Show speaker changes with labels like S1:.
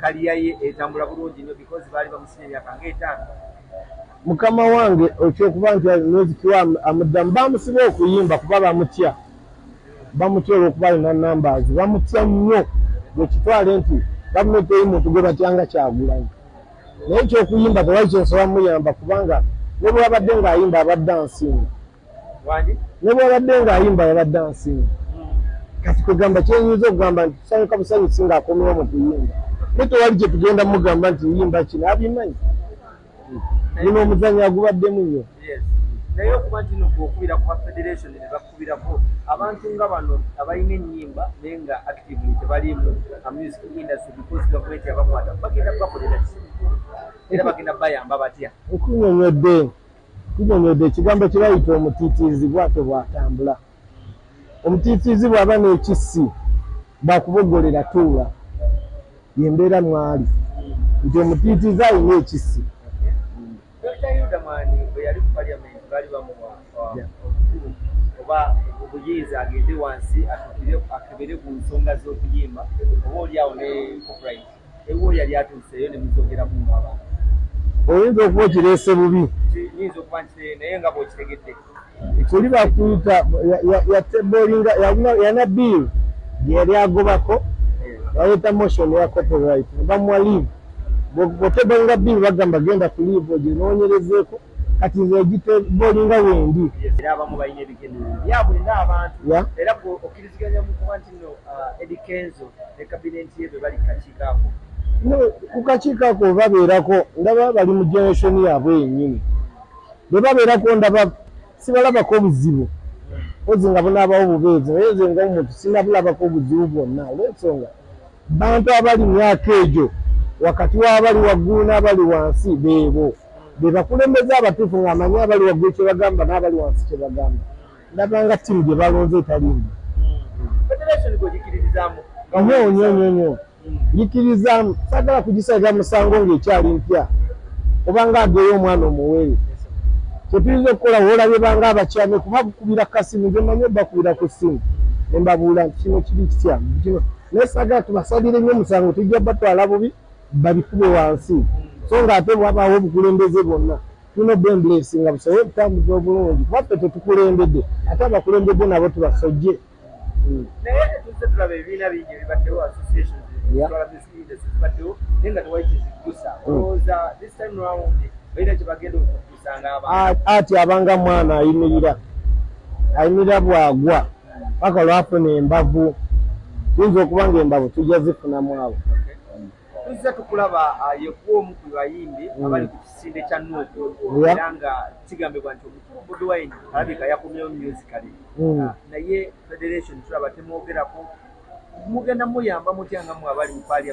S1: Kaliya ye etambula bulungi nnyo because baali bamusibye emyaka ng'etaano. Mukama
S2: wange okyokuba nti nozikiwa amuddamu bamusiba okuyimba kuba bamutya bamutya olwokuba alina numbers bamutya nnyo bwekitwale nti gavumenti eyi muntu gwe batyanga kyagulanyi naye ekyokuyimba tewali kyensobola muyamba kubanga nebwabadde ngaayimba abadde ansinga ne bwabadde ng'ayimba yabadde ansinga kati kwegamba kyenyinza okugamba nti tusanyuka busanyusi ng'akomewo mu kuyimba naye tewali kye tugenda mugamba nti yimba kino abimanyi nina omuzanyo agubaddemu nnyo naye okuba
S1: nti no gwokubira ku bafederation ne bakubirako abantu nga bano abalina ennyimba naye nga actively tebaliimu amusic industry because gavumenti yabakwata bagenda bakolera ki era bagenda bayamba batya nkunyonyodde
S2: Tunyonyodde ekigambo kye bayita omutiitiizi bwatyo bw'atambula. Omutiitiizi bw'aba n'ekissi bw'akuboggolera tuula. Ye mbeera mw'ali nti omutiitiizi alina ekissi.
S1: Dokita Hilda Mwani bwe yali mu Parliament baali bamuwa obukulu oba obuyinza agende wansi akebere ku nsonga z'okuyimba oba olyawo ne copyright. Ewuwo yali atuuseeyo ne muzogeramu mu abantu. Oyinza
S2: okuba okireese bubi. Nyinza okuba nti
S1: naye nga bw'okitegedde. Kuli
S2: bakuyita yatebolinga yana bill yali agobako baleeta motion ya copyright bamuwa leave bwotebolinga bill bagamba genda ku leave oginoonyerezeeko kati nze egitebolinga wendi. Era abamu balina ebigendererwa
S1: byabwe ng'abantu era bw'okkiriziganya mu kuba nti ku
S2: kakiiko ako webabeerako ndaba bali mu generation yaabwe yennyini bwebabeerako ndaba sibalabako obuzibu ozi nga bunaabawo bubeezi naye nze nga omuntu sinabulabako obuzibu bwonna olwensonga bantu abali myaka egyo wakati w'abali waggulu n'abali wansi beebo be bakulembeza abatuufu ng'amanyi abali waggulu kye bagamba n'abali wansi kye bagamba ndabanga ttiimu gye balonze etaliimu nyo nyo nyo nyo nyikirizaamu sagala kugisalira musango ng'ekyali mpya obanga ageyo omwana omuwere kyetuyinza okukola wolabye banga abakyame kuba bukubira kasimu ngemanyi obakubira ku ssimu nembabuula nti kino kiri kitya kino naye sagala tubasalire nyo omusango tujja batwala bubi babikube wansi so ng'ate bwabawo obukulembeze bwonna tulina obwembulensi nga busobole okutambuza obulungi kuba ffe tetukulembedde ate abakulembedde nabo tubasojje
S1: hmm. ati abanga
S2: mwana ayimirira ayimirira bwagwa paka lwafuna embavu tuyinza okuba nga embavu tujja zifunamu abo tuzze
S1: tukulaba uh, yekuwa omu ku bayimbi mm. abali ku kisinde kya nuuku era nga kigambibwa nti omukulu bobi wine alabika yakomyewo musicale mm. uh, naye federation tulaba temwogerako mugenda muyamba mutya nga mwe abali mu palia